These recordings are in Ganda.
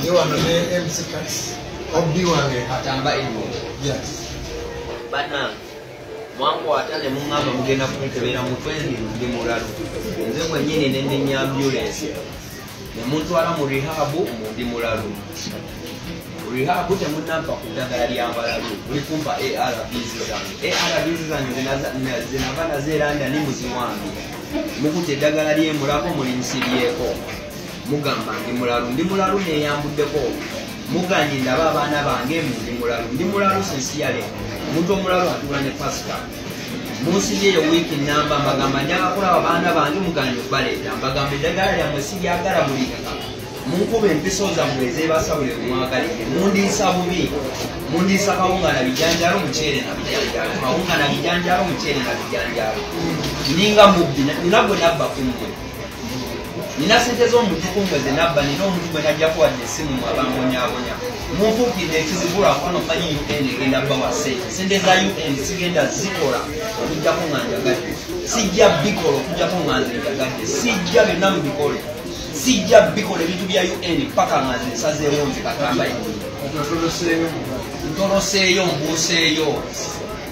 Ndi wano ne MC Kats. Obbi wange. Atamba Ibu. Yes. Banange. mwankwata ne muŋŋamba mugenda kunkebera mutwe ndi ndi mulalu nze mwennyini ne ndenya ambulensi ne muntwala mu rihabu mu ndi mulalu rihabu temunampa ku ddagala lya mbalalu muli kumpa arvs zange arvs zange zinava nazeeranda ni muziwange mukuta eddagala lyemulako muli nsiryeko mugamba ndi mulalu ndi mulalu neyambuddeko muganye ndaba abaana bange mundi mulalu ndi mulalu sensiyale omuntu omulalu atuula ne pasita munsi yeyo wiiki namba mbagamba njaga kulaba baana bange muganye okubaleeta mbagamba eddagala lyammwe siryagala mulikaka munkuba empiso zammwe ezebasabule mwagalire mundiisa bubi mundiisa kawunga na bijanjalo muceere na bijanjalo kawunga na bijanjalo muceere na bijanjalo ninga mubbi nina gwe nabba kummwe nina sente z'omutukumbe ze nabba nina omuntu gwe najjako wadde essimu mu abambonyabonya munfuukidde ekizibu lwakubano manyi un egenda bawa sente sente za un sigenda zikola okujjako nga njagadde sijja bikola okujjako nga nze njagadde sijja byonna mubikole sijja bikola ebintu bya un paka nga nze nsazeewo nze katambayi ntoloseeyo mbuuseeyo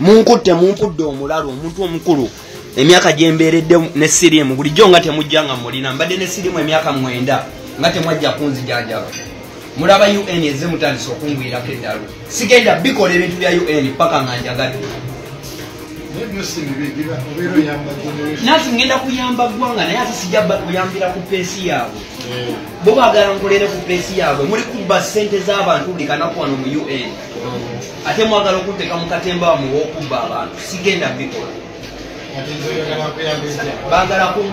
munkutte mumpudde omulalu omuntu omukulu emyaka gyembeeredde ne siriimu bulijjo nga temujja nga mulina mbadde ne siriimu emyaka mwenda nga temwajja kunzijanjaba mulaba un eze mutandisa okungwirako eddalu sigenda bikola ebintu bya un paka nga njagadde nati ngenda kuyamba ggwanga naye ate sijja kuyambira ku peesi yaabwe eh. bo bagala nkolere ku peesi yaabwe muli kubba ssente z'abantu buli kanaku wano mu un ate mwagala okunteka mukatemba wamu wokubba abantu sigenda bikola bagala